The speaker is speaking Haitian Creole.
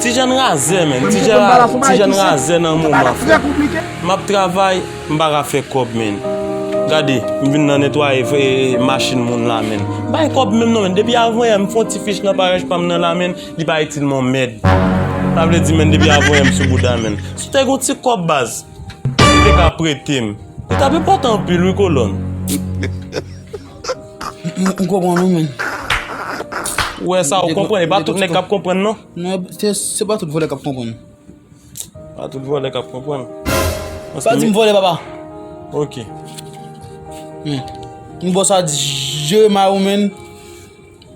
Tijen razè menn, tijen razè nan moman frè. M ap travay, m pa ka fè kòb menn. Gade, m vin nan netwaye machin moun la menn. M pa gen kòb menm non menn, depi avanyè m fon ti fich nan parèch pa m nan la menn, li pa itil m on mèd. Sa vle di menn depi avanyè m sou bouda menn. Si w te gen yon ti kòb baz, ou te ka prete m. Li t ap enpòtan anpil wi kolòn. M konprann ou menn. Ou wè sa ou konprann, e pa tout nèg k ap konprann non. Non, se pa tout vòlè k ap konprann. Pa tout vòlè k ap konprann. Pa di m vòlè papa. Ok. M bon sa di, jere may ou menn.